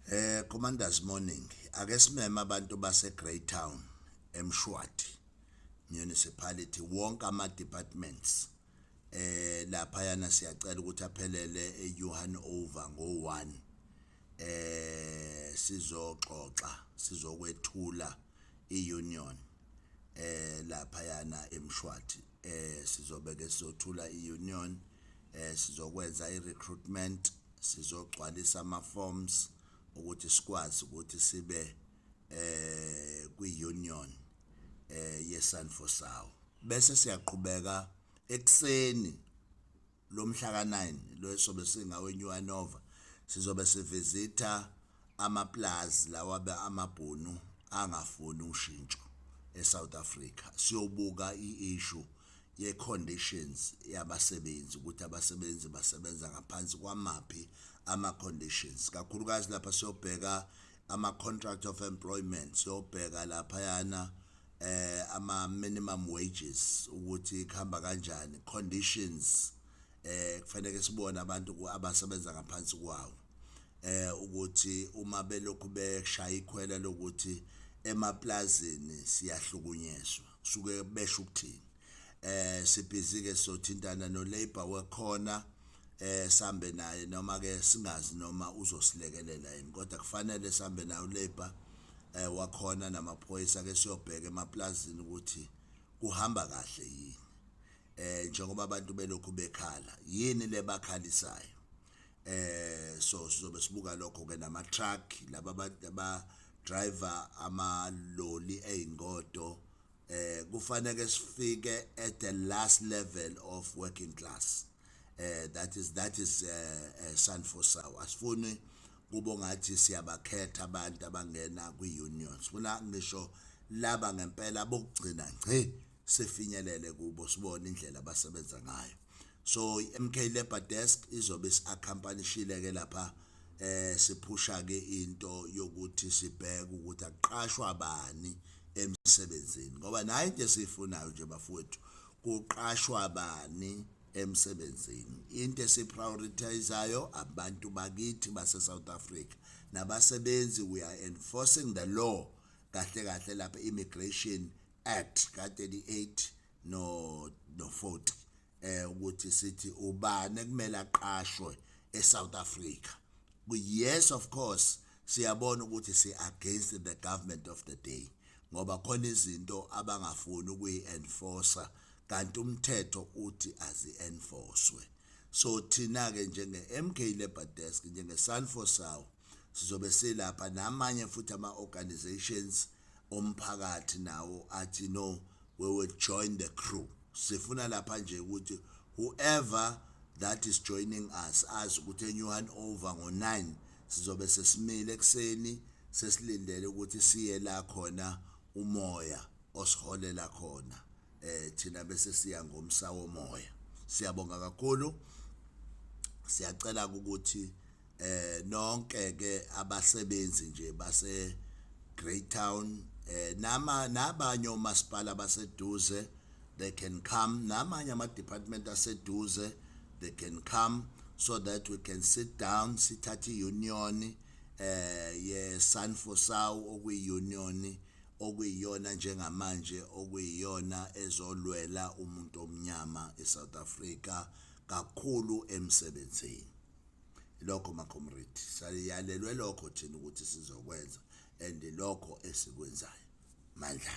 Eh Commanders morning ake simeme abantu base Greytown eMshwathi municipality wonke ama departments eh lapha yana siyacela ukuthi aphelele eJohan over ngo1 eh sizoxoxa sizokwethula iunion eh lapha yana eMshwathi eh sizobe ke sizothula iunion eh sizokwenza irecruitment sizogcwalisa ama forms ukuthi sikwazi ukuthi sibe eh kwi union eh ye Sanfosao bese siyaqhubeka ekseni lomhla ka9 losobe singawe New Anova sizobe sivisitha Amapulazi lawa amabhunu angafuni ushintsho eSouth Africa. Siyobuka i-issue ye-conditions yabasebenzi ukuthi abasebenzi basebenza ngaphansi kwamaphi ama-conditions. Kakhulukazi lapha siyobheka ama-contract of employment, siyobheka laphayana eh ama-minimum wages ukuthi kuhamba kanjani, conditions eh kufanele sibone abantu abasebenza ngaphansi kwawo eh ukuthi uma belokhu beshaya ikhwela lokuthi emaplazini siyahlukunyezwa kusuke besho ukuthini eh sibhizi ke sothintana no labor wekhona eh sambe naye noma ke singazi noma uzosilekelela yini kodwa kufanele sambe naye ulabor eh wakhona namaphoyisa ke siyobheka emaplazini ukuthi Kuhamba kahle yini? Eh njengoba abantu belokhu bekhala, yini lebakhalisayo? Eh so sizobe sibuka lokho ke nama truck laba ba driver ama loli ezingodo eh kufanele sifike at the last level of working class. eh that is that is uh, uh, sun for sour asifuni kubo ngathi siyabakhetha abantu abangena kwi-union sifuna ngisho laba ngempela bokugcina ngci sifinyelele kubo sibone indlela abasebenza ngayo so i-mk labor desk izobe si-accompanyishile ke lapha eh siphusha ke into yokuthi sibheke ukuthi aqashwa bani emsebenzini ngoba naye into esiyifunayo nje bafowethu kuqashwa bani emsebenzini. Into esiprioritizayo abantu bakithi base-South Africa nabasebenzi we are enforcing the law kahle kahle lapha immigration act ka-38 no no 40 eh ukuthi sithi ubani ekumele aqashwe eSouth Africa yes of course siyabona ukuthi si against the government of the day ngoba khona izinto abangafuni ukuyi enforcer kanti umthetho uthi azi enforcwe so thina ke njenge MK Labor Desk njenge Sanfosao sizobe silapha namanye futhi ama organizations omphakathi nawo athi no we will join the crew sifuna lapha nje ukuthi whoever that is joining us azi ukuthi enyuhan over ngo-9 sizobe sesimile ekuseni sesilindele ukuthi siye la khona umoya osiholela khona eh thina bese siya ngomsa womoya siyabonga kakhulu siyacela ukuthi eh nonke ke abasebenzi nje base Greytown eh nama nabanye omasipala baseduze they can come namanye ama department aseduze they can come so that we can sit down sithathe iunion eh ye Sanfosau okuyiunion okuyiyona njengamanje okuyiyona ezolwela umuntu omnyama eSouth Africa kakhulu emsebenzini lokho macomrade saliyalelwe lokho thina ukuthi sizokwenza and lokho esikwenzayo mandla